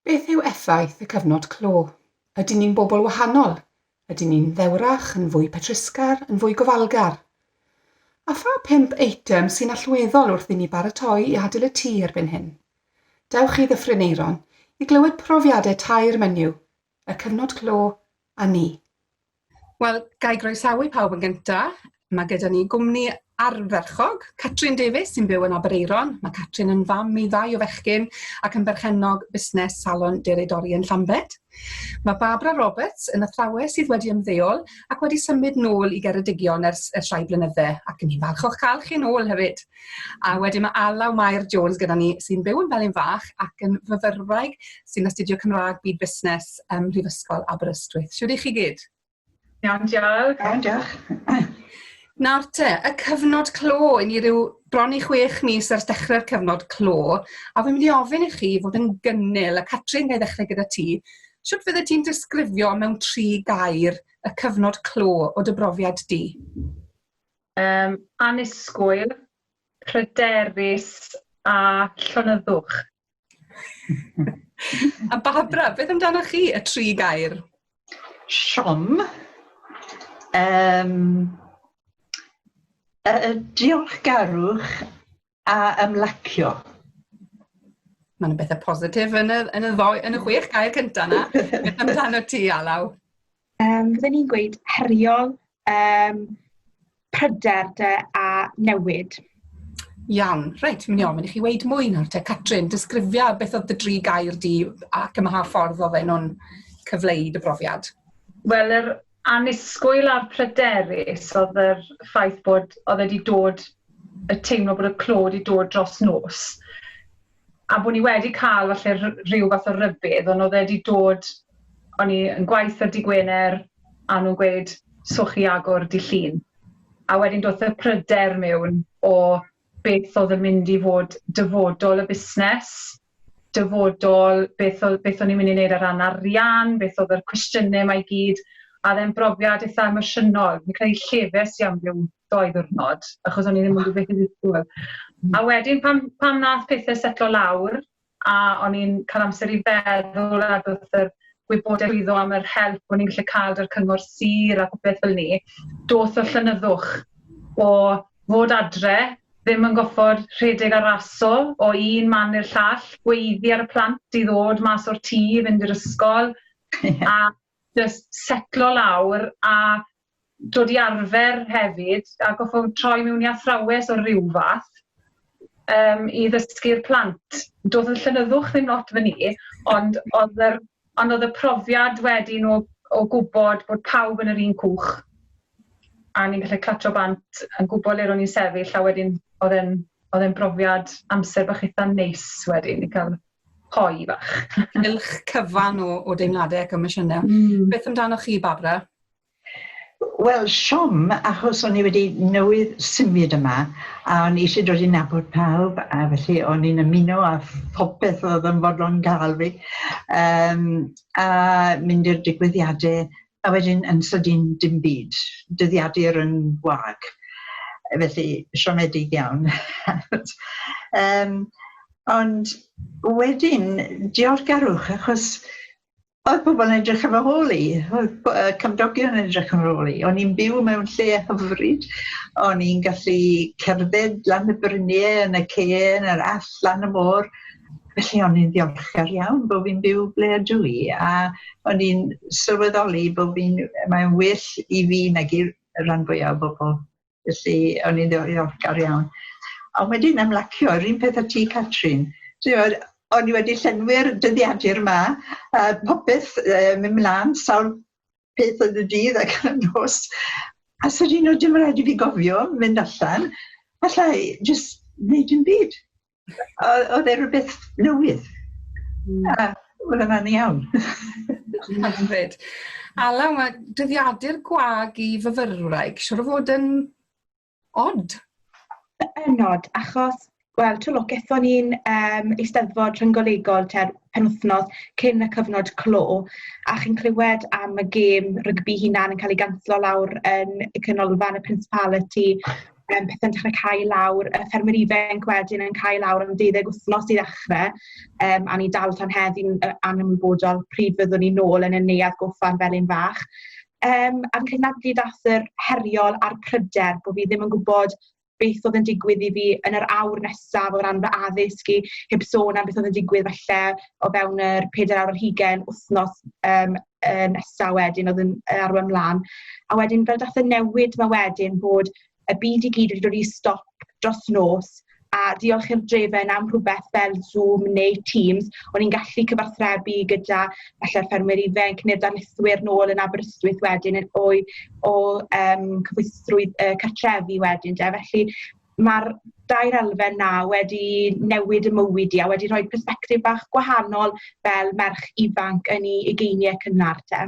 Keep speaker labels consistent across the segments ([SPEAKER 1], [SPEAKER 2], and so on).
[SPEAKER 1] Beth yw effaith y cyfnod clo? Ydyn ni'n bobl wahanol? Ydyn ni'n ddewrach, yn fwy petrusgar, yn fwy gofalgar? A pha pump eitem sy'n allweddol wrth i ni baratoi i adael y tŷ erbyn hyn? Dewch i Ddyffryn Aeron i glywed profiadau tair menyw, y cyfnod clo â ni. Wel,
[SPEAKER 2] ga i groesawu pawb yn gynta. Mae gyda ni gwmni arferchog, Catrin Davies, sy'n byw yn Aberaeron. Mae Catrin yn fam i ddau o fechgyn ac yn berchennog busnes salon deredori yn Llambed. Mae Barbara Roberts yn athrawes sydd wedi ymddeol ac wedi symud nôl i Geredigion ers, ers rhai blynydde, ac yn ni'n falch o'ch cael chi nôl hefyd. A wedyn mae Alaw Mair Jones gyda ni, sy'n byw yn Felin Fach ac yn fyfyrwraig sy'n astudio Cymraeg Byd Busnes ym Mhrifysgol Aberystwyth. Siwr i chi gyd? Iawn, diolch.
[SPEAKER 3] Iawn, diolch.
[SPEAKER 4] Nawr
[SPEAKER 2] te, y cyfnod clo, i ni rhyw bron i chwech mis ers dechrau'r cyfnod clo, a fi'n mynd i ofyn i chi fod yn gynnil, a Catrin, gael ddechrau gyda ti, sut fydde ti'n disgrifio mewn tri gair y cyfnod clo o dy brofiad di? Yym,
[SPEAKER 3] annisgwyl, pryderus a llonyddwch.
[SPEAKER 2] a Barbara, beth amdano chi, y tri gair? Siom.
[SPEAKER 4] Um, uh, diolchgarwch a ymlacio.
[SPEAKER 2] Mae'n y bethau positif yn y, yn y, ddoi, yn y chwech gair cyntaf na. Beth amdano ti, Alaw? Um, Fydden
[SPEAKER 5] ni'n gweud heriol, um, pryder de, a newid. Iawn,
[SPEAKER 2] reit, mi'n iawn, mynd i chi weid mwy nawr te. Catrin, disgrifia beth oedd dy dri gair di ac yma ha ffordd oedd nhw'n cyfleu dy brofiad. Wel, yr
[SPEAKER 3] annisgwyl a'r pryderus oedd yr ffaith bod oedd e 'di dod y teimlo bod y clo 'di dod dros nos a bod ni wedi cael falle rh- rhyw fath o rybudd ond oedd e 'di dod o'n i yn gwaith ar dy' Gwener a nhw'n gweud so chi agor dy' Llun a wedyn doth y pryder mewn o beth oedd yn mynd i fod dyfodol y busnes dyfodol, beth o- beth o'n i'n mynd i wneud ar ran arian, beth oedd yr cwestiynau mae i gyd, a oedd e'n brofiad eitha' emosiynol. Fi'n credu llefes i am ryw ddou ddiwrnod, achos o'n i ddim yn gwybod beth i ddisgwyl. Hmm. A wedyn pan pan wnaeth pethau setlo lawr, a o'n i'n cael amser i feddwl a doedd yr gwybodaeth iddo am yr help o'n i'n gallu cael dy'r cyngor sir a popeth fel ni, doth y llonyddwch o fod adre ddim yn goffod rhedeg a raso o un man i'r llall, gweiddi ar y plant i ddod mas o'r tŷ i fynd i'r ysgol, a just setlo lawr a dod i arfer hefyd, a goffod troi mewn i athrawes o ryw fath um, i ddysgu'r plant. Doedd y llenyddwch ddim lot fan i, ond oedd yr Ond oedd y profiad wedyn o o gwybod bod pawb yn yr un cwch a ni'n gallu clatio bant yn gwybod le ro'n ni'n sefyll a wedyn oedd e'n oedd e'n brofiad amser bach eitha neis wedyn i cael hoi fach. Cylch
[SPEAKER 2] cyfan o, o deimladau ac emosiynau. Mm. Beth amdanoch chi, Barbara?
[SPEAKER 4] Wel, siom, achos o'n i wedi newydd symud yma, a o'n i eisiau dod i nabod pawb, a felly o'n i'n ymuno â phopeth oedd yn fodlon gael fi, um, a mynd i'r digwyddiadau, a wedyn yn sydyn dim byd, dyddiadur yn wag. Felly, siomedig iawn. um, ond wedyn, diolchgarwch, achos Oedd pobl yn edrych ar fy hôl i, oedd y cymdogion yn edrych ar fy hôl i. O'n i'n byw mewn lle hyfryd, o'n i'n gallu cerdded lan y brynie, yn y ceen, yr all, lan y môr. Felly o'n i'n ddiolchgar iawn bod fi'n byw ble ydw i, a o'n i'n sylweddoli bod fi'n... mae'n well i fi nag i'r rhan fwyaf o bobl. Felly, o'n i'n ddiolchgar iawn. A wedyn ymlacio, yr un peth â ti, Catrin. Ti'n o'n i wedi llenwi'r dyddiadur yma, a popeth uh, mynd mlaen, sawl peth yn y dydd ac yn y nos. A sy'n un o dim rhaid i fi gofio mynd allan, allai jyst wneud yn byd. oedd e rhywbeth newydd. Mm. A oedd yna'n iawn.
[SPEAKER 2] Hyfryd. Alaw, mae dyddiadur gwag i fyfyrwraig, siwr o fod yn odd.
[SPEAKER 5] Yn odd, achos Wel, twlo, gethon ni'n um, eisteddfod rhynggolegol ter penwthnos cyn y cyfnod clo, a chi'n clywed am y gêm rygbi hunan yn cael ei ganslo lawr yn y canolfan y Principality, um, pethau'n dechrau cael lawr, y ffermwyr ifanc wedyn yn cael lawr am deuddeg wythnos i ddechrau, um, a ni dal tan heddi'n anymwybodol pryd fyddwn ni'n nôl yn y neuad goffan fel un fach. Um, a'n cynadlu dath yr heriol a'r pryder bod fi ddim yn gwybod beth oedd yn digwydd i fi yn yr awr nesaf o ran fy addysg i, heb sôn am beth oedd yn digwydd falle o fewn yr 4 awr ar hugen wythnos um, uh, nesaf wedyn oedd yn arwain mlaen. A wedyn fel dath y newid mae wedyn bod y byd i gyd wedi dod i stop dros nos a diolch i'r drefen am rhywbeth fel Zoom neu Teams, o'n i'n gallu cyfathrebu gyda falle ffermwyr ifanc neu'r darlithwyr nôl yn Aberystwyth wedyn yn o'i o um, cyfwystrwydd uh, cartrefi wedyn. De. Felly ma'r dair elfen 'na wedi newid 'ym mywyd i a wedi rhoi persbectif bach gwahanol fel merch ifanc yn 'i ugeinie cynnar 'te.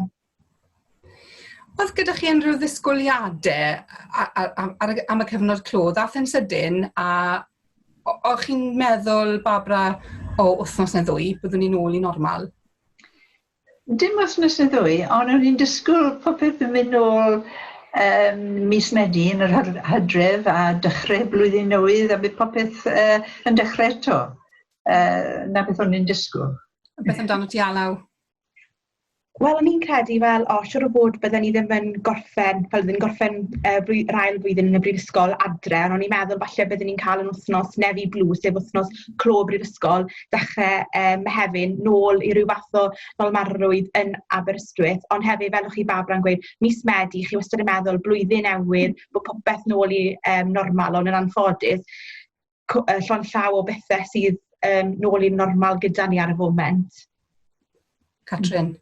[SPEAKER 2] O'dd gyda chi unrhyw ddisgwyliade a- a- a- am ar y am y cyfnod clo ddath e'n sydyn a o- o'ch chi'n meddwl Barbara o wthnos ne' ddwy byddwn ni nôl i normal?
[SPEAKER 4] Dim wthnos ne ddwy on o'n i'n disgwl popeth yn myn nôl yym mis Medi yn yr hyr- Hydref a dychre blwyddyn newydd a bydd popeth yy yn dechre eto yy na beth o'n i'n disgwl. A beth amdano ti
[SPEAKER 2] Alaw?
[SPEAKER 5] Wel o'n i'n credu fel o siwr o fod bydden ni ddim yn gorffen fel ddim yn gorffen yy flwy- yr ail flwyddyn yn y brifysgol adre on' o'n i'n meddwl falle bydden ni'n ca'l yn wthnos Nefi Blu sef wthnos clo brifysgol dechrau um, Mehefin, nôl i ryw fath o dolmarrwydd yn Aberystwyth, ond hefyd, fel o'ch chi Barbara yn gweud, mis Medi, chi wastad yn meddwl blwyddyn newydd, bod popeth nôl i um, normal, ond yn anffodus, llon llaw o bethau sydd um, nôl i'n normal gyda ni ar y foment.
[SPEAKER 2] Catrin?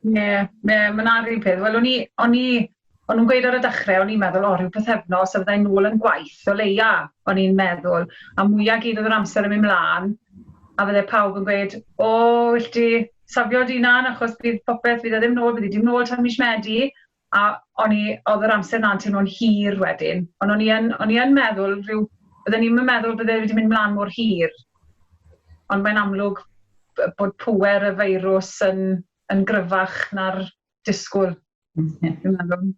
[SPEAKER 2] Ie, yeah,
[SPEAKER 3] yeah, mae'n ar un peth. Wel, o'n i, o'n i, o'n nhw'n gweud ar y dechrau, o'n i'n meddwl, o, rhyw pethefnos, a fyddai'n nôl yn gwaith, o leia, o'n i'n meddwl. A mwyaf gyd oedd yr amser yn mynd mlaen, a fydde pawb yn gweud, o, wyll ti safio dy hunan, achos bydd popeth, bydd e ddim nôl, bydd e ddim nôl tan mis Medi, a o'n i... oedd yr amser 'na'n teimlo'n hir wedyn, ond o'n i yn, o'n i yn meddwl rhyw, bydden i'n meddwl bydde wedi mynd mlaen mor hir, ond mae'n amlwg bod pŵer y feirws yn, yn gryfach na'r disgwyl. Mm.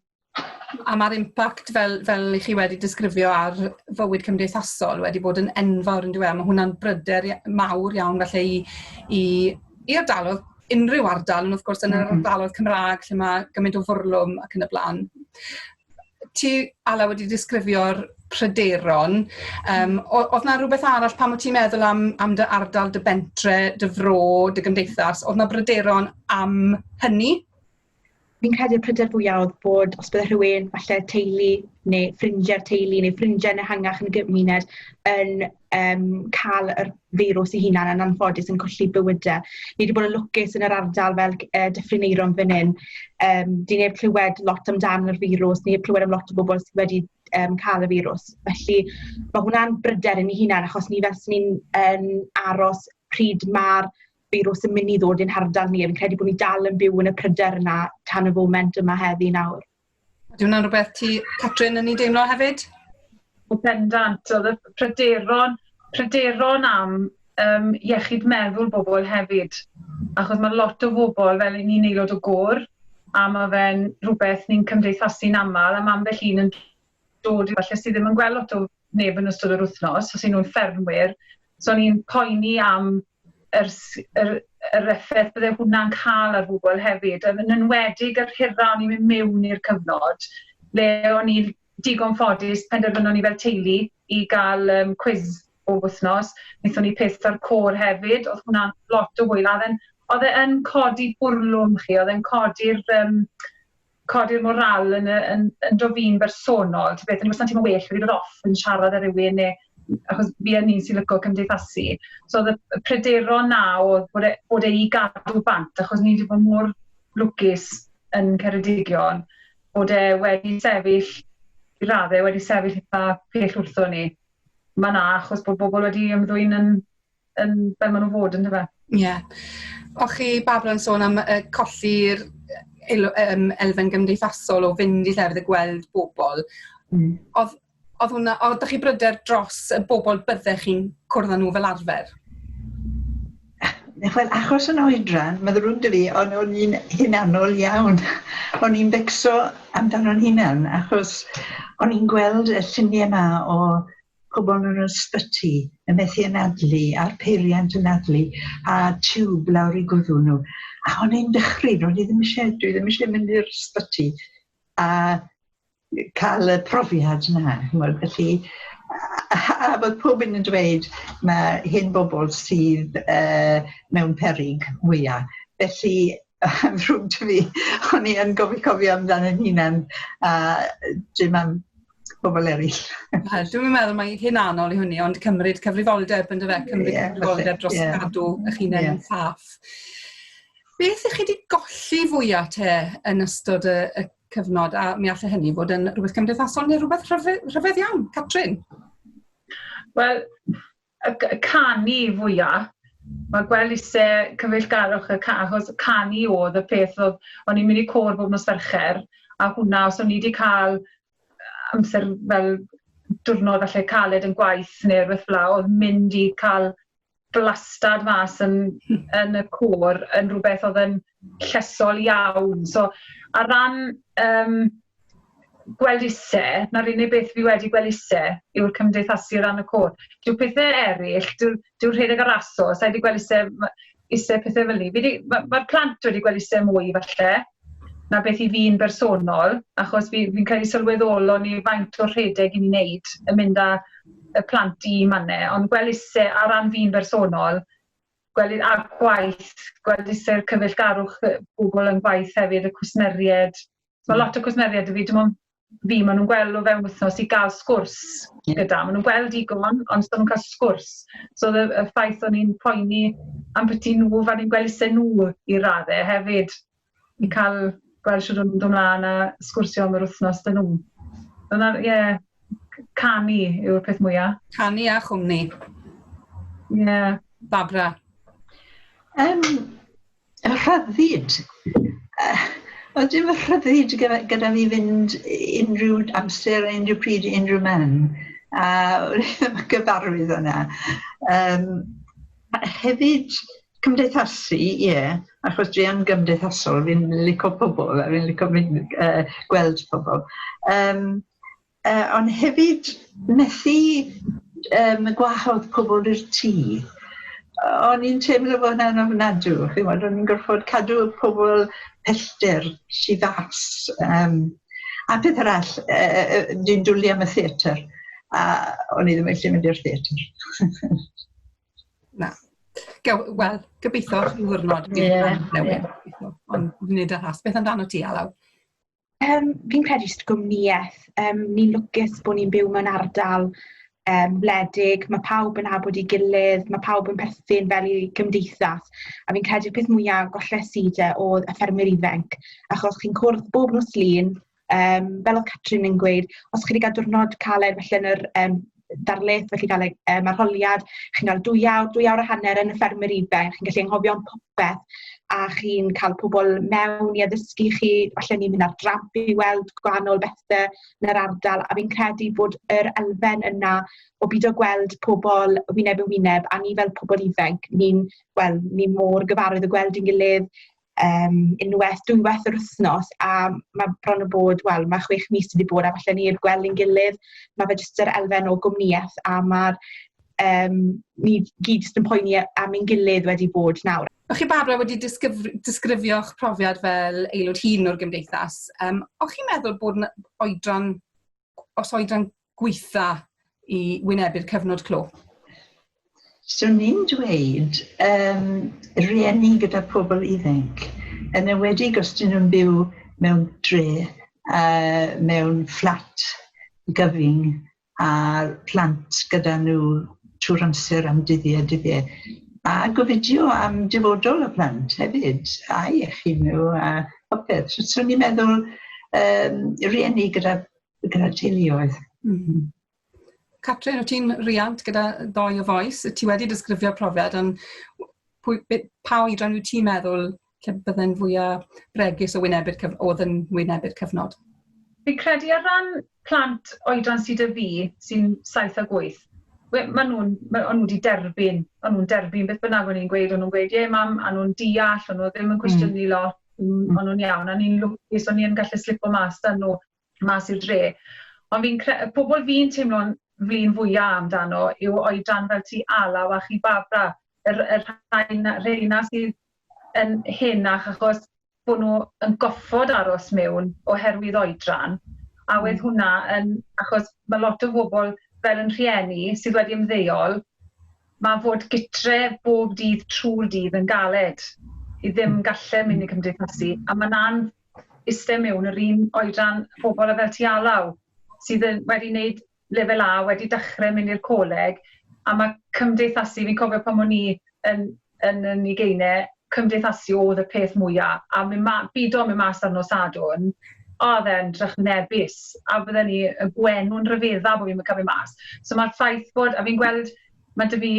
[SPEAKER 2] A mae'r impact fel, fel i chi wedi disgrifio ar fywyd cymdeithasol wedi bod yn enfawr yn dweud, mae hwnna'n bryder mawr iawn felly i, i, i ardalodd unrhyw ardal, ond wrth gwrs yn yr mm-hmm. ardaloedd Cymraeg lle mae gymaint o fwrlwm ac yn y blaen. Ti, Ala, wedi disgrifio'r pryderon. Um, oedd na rhywbeth arall pan wyt ti'n meddwl am, am dy ardal, dy bentre, dy fro, dy gymdeithas? Oedd na bryderon am hynny? Fi'n
[SPEAKER 5] credu y pryder fwya o'dd bod os bydde rhywun falle teulu ne' ffrindie'r teulu ne' ffrindie'n ehangach yn y gymuned yn yym ca'l yr feirws 'i hunan yn anffodus yn colli bywyde. Ni 'di bod yn lwcus yn yr ardal fel c- yy Dyffryn Aerom fyn 'yn yym 'di neb clywed lot amdan yr feirws ni 'eb clywed am lot o bobol sy wedi yym ca'l y feirws. Felly ma' hwnna'n bryder i ni hunan achos ni fel 'swn i'n yn aros pryd ma'r firws yn mynd i ddod i'n hardal ni. Fi'n credu bod ni dal yn byw yn y pryder yna tan y foment yma heddi nawr. Ydy hwnna'n rhywbeth
[SPEAKER 2] ti, Catrin, yn ei deimlo hefyd? O
[SPEAKER 3] bendant, oedd y pryderon, pryderon am um, iechyd meddwl bobl hefyd. Achos mae lot o bobl, fel i ni'n aelod o gôr, a mae fe'n rhywbeth ni'n cymdeithasu'n aml, a mae ambell un yn dod i falle sydd ddim yn gweld lot o neb yn ystod yr wythnos, os y'n nhw'n ffermwyr, So ni'n poeni am yr yr yr effaith bydde hwnna'n cael ar bobl hefyd, yn enwedig yr hira o'n i'n mynd mewn i'r cyfnod, le o'n i'n digon ffodus, penderfynon ni fel teulu i gael um, cwiz o wythnos, wnaethon ni peth ar côr hefyd, oedd hwnna'n lot o hwyl, oedd e'n oedd e'n codi bwrlwm chi, oedd e'n codi'r um, codi'r morale yn y yn ynddo fi'n bersonol ta beth o'n i wastad yn teimlo well wedi bod off yn siarad â rhywun neu achos fi yn un sy'n lico cymdeithasu so oedd y pryderon 'na oedd bod e bod e i gadw bant achos ni wedi bod mor lwcus yn Ceredigion bod e wedi sefyll i raddau wedi sefyll eitha pell wrthon ni. Mae 'na achos bod bobl wedi ymddwyn yn yn fel maen nhw'n fod yn dyfe? Ie. Yeah.
[SPEAKER 2] O chi Barbara yn sôn am uh, colli'r um, elfen gymdeithasol o fynd i llefydd y gweld bobl. Mm. Oedd, oedd hwnna, oedd chi bryder dros y bobl byddech chi'n cwrdd â nhw fel arfer?
[SPEAKER 4] Wel, achos yn oedran, mae ddrwg dy fi, ond o'n i'n hunanol iawn. o'n i'n becso amdano'n hunan, achos o'n i'n gweld y lluniau yma o pobl yn yr ysbyty yn methu anadlu a'r peiriant yn anadlu a tiwb lawr i gwddw nhw. A o'n i'n dychryn, o'n i ddim eisiau, dwi ddim eisiau mynd i'r ysbyty a cael y profiad yna. Felly, a bod pob un yn dweud mae hyn bobl sydd uh, mewn perig mwyaf. Felly, am rhwng ti fi, o'n i yn gofio cofio amdano'n hunan a dim am pobl eraill. Wel, dwi'n meddwl
[SPEAKER 2] mae hyn anol i hynny, ond cymryd cyfrifoldeb yn dy fe, cymryd yeah, cyfrifoldeb dros yeah. gadw eich hun yeah. yn saff. Beth ych chi wedi golli fwyaf te yn ystod y, y cyfnod, a mi allai hynny fod yn rhywbeth cymdeithasol neu rhywbeth rhyfedd, rhyfedd iawn, Catrin?
[SPEAKER 3] Wel, y canu fwya, ma' gwell isie cyfeillgarwch y ca- achos canu odd y peth odd o'n i'n mynd i côr bob nos Fercher a hwnna os o'n i di ca'l amser fel diwrnod falle caled yn gwaith ne' rwbeth fela odd mynd i ca'l blastad mas yn yn y côr yn rwbeth odd yn llesol iawn. So, ar ran um, gweld ise, na'r unig beth fi wedi gweld ise yw'r cymdeithasu ran y côr. Dyw pethau eraill, dyw'r dyw rhedeg ar aso, sa'i wedi gweld ise, ise pethau fel ni. Mae'r ma plant wedi gweld ise mwy falle, na beth i fi'n bersonol, achos fi'n fi credu sylweddolon ni faint o'r rhedeg i ni'n neud yn mynd â y plant i manne, ond gweld ise ar ran fi'n bersonol, gwely a gwaith, gwledysu'r cyfeillgarwch pobl yn gwaith hefyd, y cwsmeriaid. Mae hmm. lot o cwsmeriaid i fi, dim ond fi, maen nhw'n gweld o fewn wythnos i gael sgwrs hmm. gyda. Maen nhw'n gweld i gon, ond maen nhw'n cael sgwrs. So y, y ffaith o'n i'n poeni am beth nhw, fan i'n gweld eisiau nhw i raddau hefyd. i cael gweld shwd o'n nhw'n dod mlaen a sgwrsio am yr wythnos dyn nhw. Dyna, ie, yeah, canu yw'r peth mwyaf. Canu a chwmni. Ie. Yeah. Babra.
[SPEAKER 2] Um,
[SPEAKER 4] rhyddid. Uh, oedd dim rhyddid gyda, gyda fi fynd unrhyw amser, unrhyw pryd, unrhyw man. A gyfarwydd yna. Um, hefyd, Cymdeithasu, ie, achos dwi yn gymdeithasol, fi'n lico pobl a fi'n lico mynd uh, gweld pobl. Um, uh, ond hefyd methu um, gwahodd pobl i'r tŷ. O'n i'n teimlo bod hwnna'n ofnadw, chi'n gwybod, o'n i'n gorfod cadw pobl pellter si fas. Um, a peth arall, uh, uh, dwi'n dwlu am y theatr, a o'n i ddim eisiau mynd i'r theatr.
[SPEAKER 2] Na. Gawn, wel, gobeithio rhyw ddiwrnod bydd hwnna'n newid. Ond nid yn rhas. Beth amdano ti, Alaw? Um,
[SPEAKER 5] fi'n credu jyst gwmnïaeth. Um, ni'n lwcus bod ni'n byw mewn ardal um, wledig, mae pawb yn abod i gilydd, mae pawb yn perthyn fel i gymdeithas. A fi'n credu'r peth mwyaf golles i de oedd y ffermwyr ifanc, achos chi'n cwrdd bob nos lun, Um, fel oedd Catrin yn gweud, os chi wedi cael diwrnod caled felly yn yr um, darlith, felly gael um, arholiad, chi'n cael dwy awr, dwy awr a hanner yn y ffermwyr ifanc, chi'n gallu anghofio am popeth, a chi'n cael pobl mewn i addysgu chi, felly ni'n mynd ar dramp i weld gwahanol bethau yn yr ardal, a fi'n credu bod yr elfen yna o byd o gweld pobl wyneb yn wyneb, a ni fel pobl ifanc, ni'n well, ni mor gyfarwydd o gweld i'n gilydd, um, unwaith, dwywaith yr wythnos, a mae bron o bod, wel, mae chwech mis wedi bod, a falle ni i'r gweld yn gilydd, mae fe jyst yr elfen o gwmnïaeth, a mae'r, um, ni gyd jyst yn poeni am ein gilydd wedi bod nawr. O'ch chi Barbara wedi
[SPEAKER 2] disgrifio'ch profiad fel aelod hun o'r gymdeithas. Um, o'ch chi'n meddwl bod yn oedran, os oedran gweitha i wynebu'r cyfnod clo?
[SPEAKER 4] So ni'n dweud um, rieni gyda pobl ifanc, yn ewedig os dyn nhw'n byw mewn dre, uh, mewn fflat gyfyng a plant gyda nhw trwy'r amser am dyddiau dyddiau. A gofidio am dyfodol y plant hefyd, a iechyd nhw a popeth. So, so ni'n meddwl um, rieni gyda gyda teuluoedd. Mm -hmm.
[SPEAKER 2] Catrin, o ti'n riant gyda ddoi o foes, ti wedi disgrifio profiad, ond pwy, pa oedran wyt ti'n meddwl lle bydde'n fwyaf bregus o wynebu'r cyf... oedd yn wynebu'r cyfnod? Fi
[SPEAKER 3] credu ar ran plant oedran sydd y fi, sy'n 7 ac 8, maen nhw'n ma nhw wedi derbyn, maen nhw'n derbyn beth bynnag o'n i'n gweud, o'n nhw'n gweud, ie mam, a nhw'n deall, o'n nhw ddim yn hmm. cwestiynu mm. lot, o'n nhw'n iawn, a ni'n lwcus, o'n i'n gallu slipo mas dan nhw. mas i'r dre. Ond fi'n cre- y pobl fi'n teimlo'n flin fwya amdano yw oedran fel ti Alaw a chi Barbara, yr, yr rhai na, rheina sydd yn henach achos bod nhw yn goffod aros mewn oherwydd oedran. A wedd hwnna yn, achos mae lot o bobl fel yn rhieni sydd wedi ymddeol, mae fod gytre bob dydd trwy'r dydd yn galed i ddim gallu mynd i cymdeithasu a mae'n an iste mewn yr un oedran bobl a fel ti alaw sydd yn wedi wneud lefel A, wedi dechrau mynd i'r coleg a mae cymdeithasu, fi'n cofio pan o'n i yn, yn, yn i geinau, cymdeithasu oedd y peth mwyaf a mynd ma, byd o'n mynd mas ar nos sadwn, oedd e'n drychinebus a bydden ni y gwenw'n rhyfedda bod fi'n cael mynd mas. So mae'r ffaith bod, a fi'n gweld Mae dy fi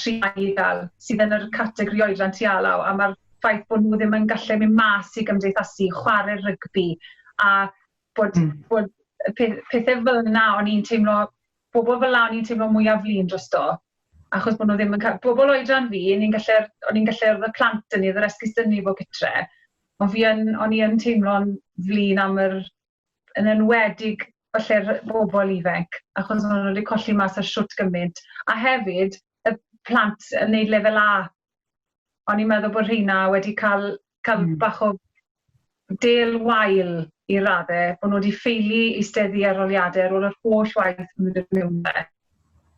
[SPEAKER 3] tri i ddal sydd yn yr categori oedran ti alaw a mae'r ffaith bod nhw ddim yn gallu mynd mas i gymdeithasu, chwarae rygbi a bod, mm. bod pethau fel yna o'n i'n teimlo, bobl fel yna o'n i'n teimlo mwyaf flin dros do. Achos bod nhw ddim yn cael, bobl oedran fi, o'n i'n gallu, o'n i'n gallu y plant yn ni, yr esgus dyn ni fod gytre. Ond fi yn, o'n i yn teimlo'n flin am yr yn enwedig falle'r bobl ifanc, achos maen nhw wedi colli mas ar shwt gymaint, a hefyd y plant yn neud lefel A. O'n i'n meddwl bod rheina wedi cael, cael mm. bach o del wael i radde, bod nhw wedi ffeili eisteddu ar oliadau ar ôl yr holl waith maen nhw wedi mewn fe.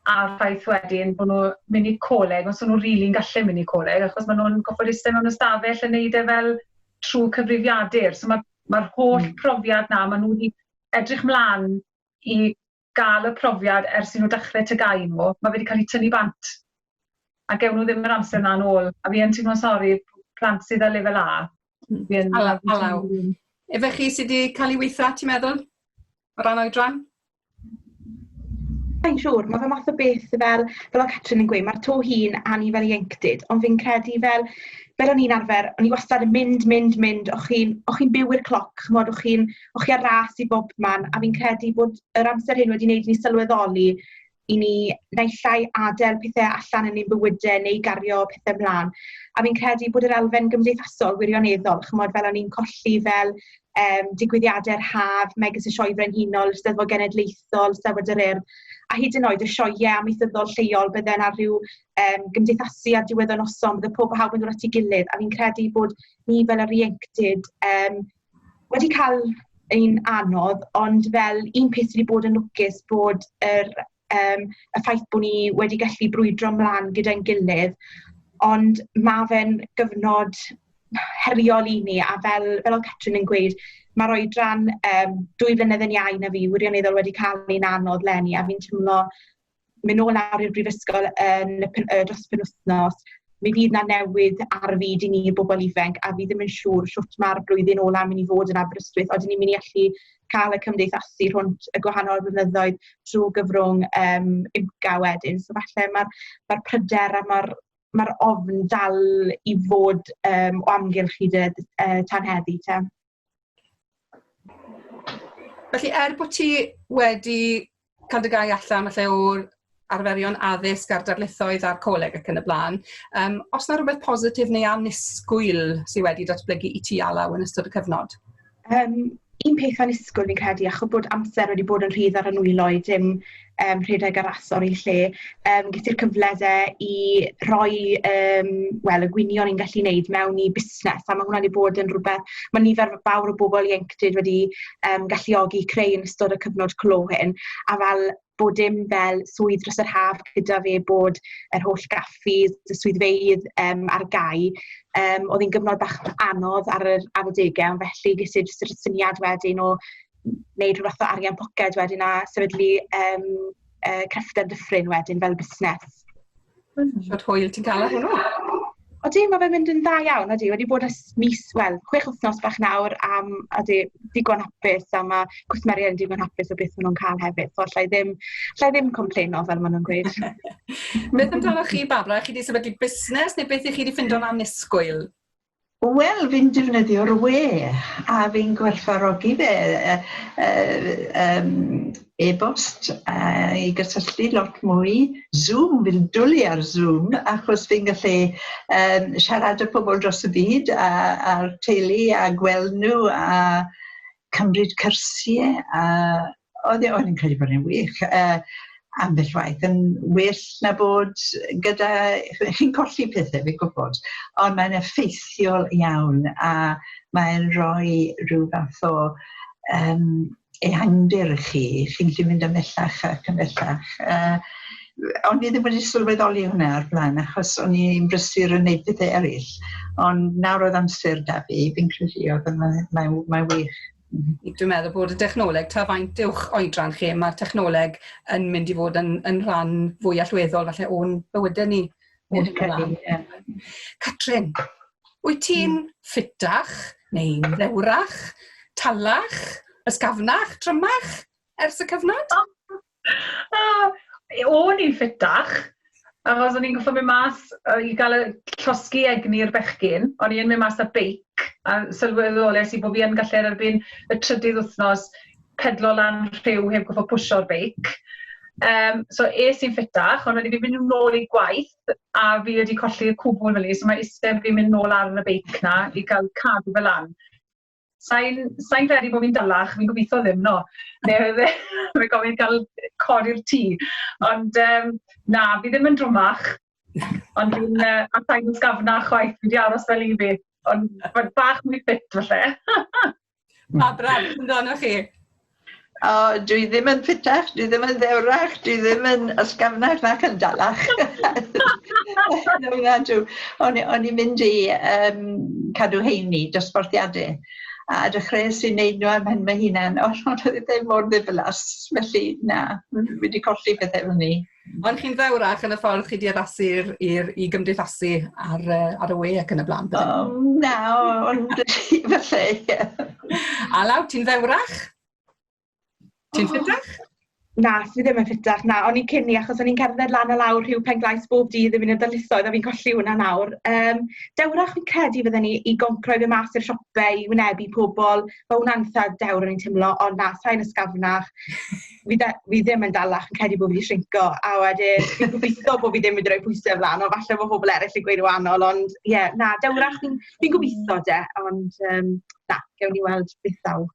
[SPEAKER 3] A'r ffaith wedyn bod nhw'n mynd i coleg, os nhw'n rili'n really gallu mynd i coleg, achos maen nhw'n gofod eistedd mewn ystafell yn neud e fel trwy cyfrifiadur. So mae Mae'r holl profiad 'na, maen nhw wedi edrych mlaen i gael y profiad ers i nhw dechrau TGAU nhw, mae fe wedi cael ei tynnu bant. A gewn nhw ddim yr amser 'na yn ôl. A fi yn teimlo'n sori, plant sydd â lefel A. Alaw, alaw.
[SPEAKER 2] Efe chi sydd wedi cael ei weithio ti'n meddwl? O ran oedran?
[SPEAKER 5] Mae'n siŵr, mae fe math o beth sydd fel, fel o Catrin yn gweud, mae'r to hun anni fel ieuenctid, ond fi'n credu fel, fel o'n i'n arfer, o'n i wastad yn mynd, mynd, mynd, o'ch chi'n chi byw i'r cloc, chymod, o'ch chi'n o'ch chi ar ras i bob man, a fi'n credu bod yr amser hyn wedi wneud i ni sylweddoli i ni naill ai adael pethau allan yn ein bywydau neu gario pethau mlaen. A fi'n credu bod yr elfen gymdeithasol wirioneddol, chymod, fel o'n i'n colli fel um, digwyddiadau'r haf, megis y Sioe Frenhinol, y Steddfod Genedlaethol, y Steddfod yr Urdd, a hyd yn oed y sioiau amaethyddol lleol bydden ar rhyw um, gymdeithasu a diwedd o noson, bydde pob hawb yn dod at ei gilydd, a fi'n credu bod ni fel yr ieuenctid um, wedi cael ein anodd, ond fel un peth sydd wedi bod yn lwcus bod yr um, y ffaith bod ni wedi gallu brwydro mlaen gyda'n gilydd, ond mae fe'n gyfnod heriol i ni, a fel, fel oedd Catrin yn gweud, mae'r oedran um, dwy flynedd yn iau na fi, wirioneddol wedi cael ein anodd lenni, a fi'n teimlo mynd nôl nawr i'r brifysgol yn y, y dros penwthnos, Mi fydd 'na newid ar fyd i ni bobl ifanc a fi ddim yn siŵr shwt mae'r blwyddyn ola yn mynd i fod yn Aberystwyth. Odyn ni'n mynd i allu cael y cymdeithasu rhwnt y gwahanol flynyddoedd trwy gyfrwng um, IMCA wedyn. So falle mae'r ma pryder a mae'r ma ofn dal i fod um, o amgylch hyd y uh, tan heddi te.
[SPEAKER 2] Felly, er bod ti wedi cael dy gau allan falle o'r arferion addysg a'r darlithoedd a'r coleg ac yn y blaen, um, os yna rhywbeth positif neu anusgwyl sydd wedi datblygu i ti alaw yn ystod y cyfnod? Um,
[SPEAKER 5] un peth anusgwyl fi'n credu, achos bod amser wedi bod yn rhydd ar y nwylo i dim yym rhedeg ar asor i lle yym ges i'r cyfle 'de i rhoi yym wel y gwynion i'n gallu neud mewn i busnes a ma' hwnna 'di bod yn rwbeth ma' nifer fawr o bobol ieuenctid wedi yym galluogi creu yn ystod y cyfnod clo hyn a fel bod dim fel swydd dros yr haf gyda fe bod yr holl gaffis, y swyddfeydd yym ar gau yym o'dd 'i'n gyfnod bach anodd ar yr ar adegau ond felly ges i jyst yr syniad wedyn o wneud rhywbeth o arian poced wedyn a sefydlu um, uh, crefftau dyffryn wedyn fel busnes. Mm. Siwt
[SPEAKER 2] hwyl ti'n cael ar hwnnw? O di, mae
[SPEAKER 5] fe'n mynd yn dda iawn, o di, wedi bod ys mis, wel, chwech wythnos bach nawr am, o di, digon hapus, a mae cwsmeriaid yn digon hapus o beth maen nhw'n cael hefyd, so allai ddim, allai ddim complaino fel maen nhw'n gweud. beth
[SPEAKER 2] amdano chi, Babra, chi wedi sefydlu busnes, neu beth i chi wedi ffindo'n anusgwyl? Wel
[SPEAKER 4] fi'n defnyddio'r we a fi'n gwerthfawrogi fe yy yy yym e-bost a i gysylltu lot mwy Zoom fi'n dwli ar Zoom achos fi'n gallu yym siarad â pobl dros y byd a a'r teulu a gweld nhw a cymryd cyrsie a Oedd e, o'n i'n credu bod e'n wych uh, ambell waith yn well na bod gyda... Chi'n colli pethau, fi'n gwybod, ond mae'n effeithiol iawn a mae'n rhoi rhyw fath o um, ehangdir i chi. Chi'n gallu mynd ymhellach ac ymhellach. Uh, ond fi ddim wedi sylweddoli hwnna ar blaen achos o'n i'n brysur yn neud pethau eraill. Ond nawr oedd amser da fi, fi'n credu oedd mae'n mae, mae wych. Dwi'n meddwl bod
[SPEAKER 2] y dechnoleg, ta faint uwch oedran chi, mae'r technoleg yn mynd i fod yn, yn rhan fwy allweddol falle o'n bywydau ni. O'n bywydau ni, Catrin, wyt ti'n mm. ffitach neu'n ddewrach, talach, ysgafnach, trymach ers y cyfnod?
[SPEAKER 3] O'n i'n ffitach, achos o'n i'n gorffod mynd mas yy i ga'l y llosgi egni i'r bechgyn, o'n i yn mynd mas ar beic, a sylweddolais i bo' fi yn gallu erbyn y trydydd wthnos pedlo lan rhiw heb goffod pwsio'r beic, yym so es i'n ffitach, ond o'n i 'di mynd nôl i gwaith a fi wedi colli y cwbwl rili, so ma' iste fi mynd nôl ar y beic 'na i ga'l cadw fe lan. Sa'n sa credu bod fi'n dalach, fi'n gobeithio ddim, no. Mae'n gofyn cael codi'r tŷ. Ond um, na, fi ddim yn drwmach. Ond fi'n uh, atai yn sgafna chwaith, fi wedi aros fel i fi. Ond mae'n bach mwy ffit falle. Pa
[SPEAKER 2] braf, yn amdano chi? O,
[SPEAKER 4] dwi ddim yn ffitach, dwi ddim yn ddewrach, dwi ddim yn ysgafnach nac yn dalach. no, nadw. O'n, o'n i'n mynd i um, cadw heini, dosbarthiadau. A dechreuais i wneud nhw am hyn mae hunan, ond o'n oedd ddim mor ddiflas, felly na, wedi colli pethau fel ni. Ond chi'n ddewrach
[SPEAKER 2] yn y ffordd chi 'di addasu i'r i'r i gymdeithasu ar yy ar y we ac yn y bla'n bydde? Um, na,
[SPEAKER 4] ond falle, ie. A law,
[SPEAKER 2] ti'n ddewrach? Ti'n ffitach? Na, fi ddim
[SPEAKER 5] yn ffitach, na, o'n i'n cyn i, achos o'n i'n cerdded lan a lawr rhyw pen glais bob dydd yn mynd i'r darlithoedd, a fi'n colli hwnna nawr. Um, dewrach fi'n credu fydden ni i goncro i fe mas i'r siopau, i wynebu pobl, mae hwnna'n eitha dewr o'n i'n teimlo, ond na, sa'n ysgafnach. fi, da, fi ddim yn dalach yn credu bod fi wedi shrinco, a wedyn fi'n gobeithio bod fi ddim wedi rhoi pwysau flan, ond falle bod pobl eraill yn gweud wahanol, ond ie, yeah, na, dewrach fi'n fi gobeithio de, ond um, na, gewn ni weld beth ddaw.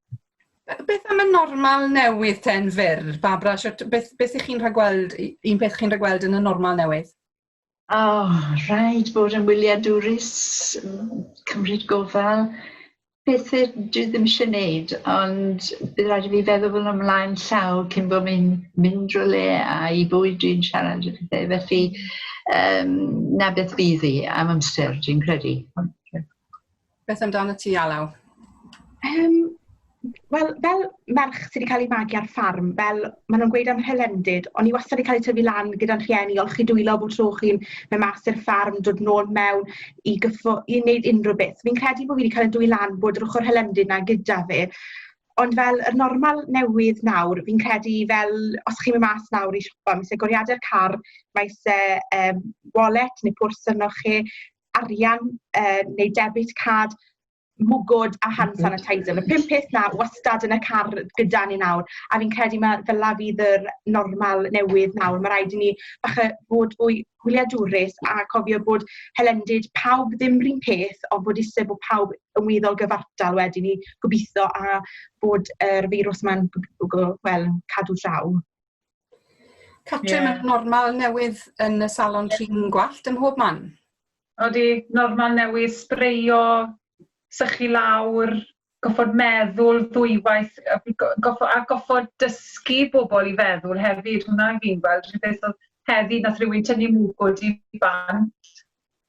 [SPEAKER 5] Beth am y
[SPEAKER 2] normal newydd ten fyr, Babra, beth, beth ych chi'n rhagweld, un peth chi'n rhagweld yn y normal newydd? O,
[SPEAKER 4] rhaid bod yn wyliadwrus, cymryd gofal, pethau dwi ddim eisiau gwneud, ond bydd rhaid i fi feddwl fel ymlaen llaw cyn bod mi'n mynd rhywle a i bwy dwi'n siarad y pethau. Felly, um, na beth bydd i am amser, dwi'n credu.
[SPEAKER 2] Beth amdano ti, Alaw? Um,
[SPEAKER 5] Wel, fel merch sydd wedi cael ei magu ar ffarm, fel maen nhw'n gweud am hylendid, ond i wastad wedi cael ei tyfu lan gyda'n rhieni, olchi dwylo bod tro chi'n mynd mas i'r ffarm, dod nôl mewn i, gyffo, i wneud unrhyw beth. Fi'n credu bod fi wedi cael ei dwy lan bod yr ochr hylendid na gyda fi. Ond fel yr normal newydd nawr, fi'n credu fel, os chi'n mynd mas nawr i siopa, mae eisiau goriadau'r car, mae eisiau um, wallet neu pwrs yno chi, arian uh, neu debit card, mwgod a hand mhm. sanitizer. Mae pum peth na wastad yn y car gyda ni nawr, a fi'n credu mae fel la fydd yr normal newydd nawr. Mae rhaid i ni bach y bod fwy hwyliadwrus a cofio bod helendid pawb ddim rhywun peth, ond bod eisiau bod pawb yn weddol gyfartal wedyn ni gobeithio a bod yr feirws yma'n well, cadw draw.
[SPEAKER 2] Catrin, yeah. mae'n normal newydd yn y salon trin gwallt ym mhob man. Odi,
[SPEAKER 3] normal newydd, sbreio, sychu lawr, goffod meddwl ddwywaith, goffod, a goffod dysgu bobl i feddwl hefyd, hwnna fi'n gweld, rhywbeth oedd heddi, nath rhywun tynnu mwgwd i bant,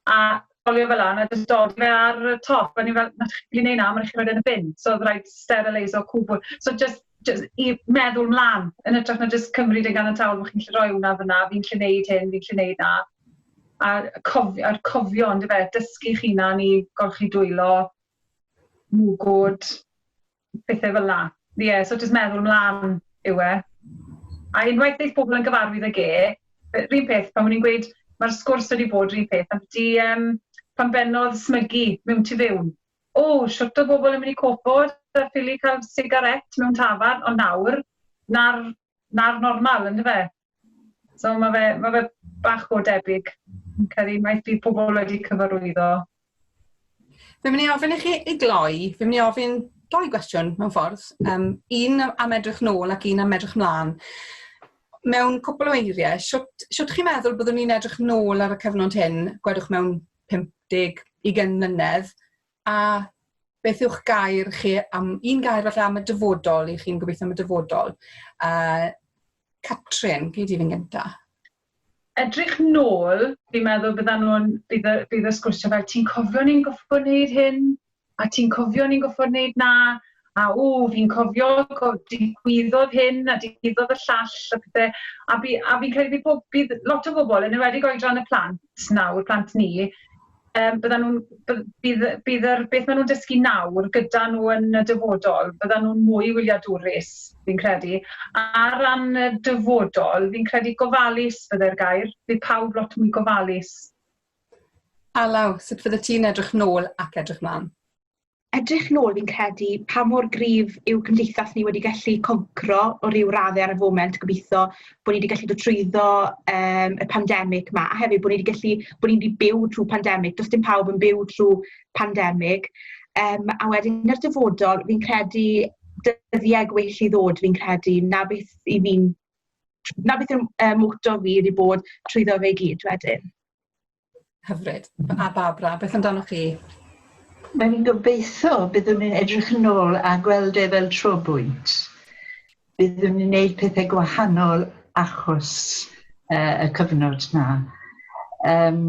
[SPEAKER 3] a colio fel hyn, a jyst dod fe ar y top, a ni fel, na, chi'n gallu neud na, ma' rai' chi roid e yn y bin, so o'dd raid sterileiso cwbwl, so jyst jys- i meddwl mlan, yn ytrach na jyst cymryd e'n ganiataol bo' chi'n gallu roi hwnna fyn 'na, fi'n gallu neud hyn, fi'n gallu neud 'na, a cof- a'r cofio yndyfe, dysgu'ch hunan i golchi dwylo, mwgwd, pethau fel la. Ie, yeah, so jyst meddwl ymlaen yw e. A unwaith ddeith pobl yn gyfarwydd ag e, rhywun peth, pan o'n i'n gweud, mae'r sgwrs wedi bod rhywun peth, am di, um, pan bennodd smygu mewn tu fewn. O, oh, siwt o bobl yn mynd i cofod a ffili cael sigaret mewn tafar, ond nawr, na'r, nar normal, ynddo fe? So mae fe, mae fe bach o debyg. Yn cael maeth bydd pobl wedi cyfarwyddo.
[SPEAKER 2] Fe mynd i ofyn i chi i gloi, fe mynd i ofyn doi gwestiwn mewn ffordd. Um, un am edrych nôl ac un am edrych mlaen. Mewn cwpl o eiriau, siwt, siwt chi'n meddwl byddwn ni'n edrych nôl ar y cyfnod hyn, gwedwch mewn 50, 20 mlynedd, A beth yw'ch gair chi am, un gair falle am y dyfodol, i chi'n gobeithio am y dyfodol? Uh, Catrin, gyd i fi'n gyntaf edrych
[SPEAKER 3] nôl, fi'n meddwl byddan nhw'n, bydd, bydd y sgwrsio fel, ti'n cofio ni'n goffo wneud hyn, a ti'n cofio ni'n goffo wneud na, a o, fi'n cofio, digwyddodd hyn, a digwyddodd y llall, a pethau, a, fi, a fi'n credu bydd, bydd lot o bobl, yn ymwedig oedran y plant nawr, plant ni, um, byddan nhw'n, bydd, bydd yr, beth maen nhw'n dysgu nawr gyda nhw yn y dyfodol, byddan nhw'n mwy wyliadwrus, fi'n credu. A ar ran y dyfodol, fi'n credu gofalus bydde'r gair, bydd pawb lot mwy gofalus.
[SPEAKER 2] Alaw, sut fydde ti'n edrych nôl ac edrych mlaen? edrych
[SPEAKER 5] nôl fi'n credu pa mor gryf yw cymdeithas ni wedi gallu concro o ryw radde ar y foment gobitho bod ni wedi gallu dod trwyddo um, y pandemig ma a hefyd bod ni wedi gallu bod ni wedi byw trwy pandemig does dim pawb yn byw trwy pandemig um, a wedyn yn yr dyfodol fi'n credu dyddiau gwell i ddod fi'n credu na beth i fi'n na beth yw'r um, moto fi wedi bod trwyddo fe gyd wedyn.
[SPEAKER 2] Hyfryd. A Barbara, beth amdanoch chi? Mae'n
[SPEAKER 4] gobeithio byddwn ni'n edrych yn ôl a gweld e fel tro bwynt. Byddwn ni'n gwneud pethau gwahanol achos uh, y cyfnod na. Um,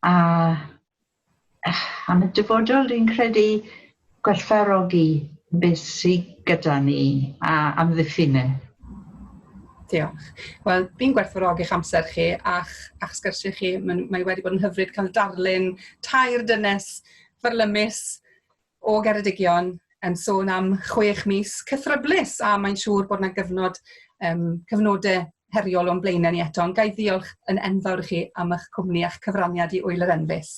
[SPEAKER 4] a am y dyfodol, dwi'n credu Gwerthfawrogi beth sy gyda ni a amddiffyn e.
[SPEAKER 2] Diolch. Wel, fi'n gwerthfawrogi'ch amser chi a'ch a'ch sgyrsiau chi. Mae'n mae wedi bod yn hyfryd cael darlun tair dynes farlymus o Geredigion yn sôn am chwech mis cythryblus a mae'n siŵr bod yna gyfnod um, cyfnodau heriol o'n blaenau ni eto. Ond gai ddiolch yn enfawr i chi am eich cwmni a'ch cyfraniad i Wyl yr Enfys.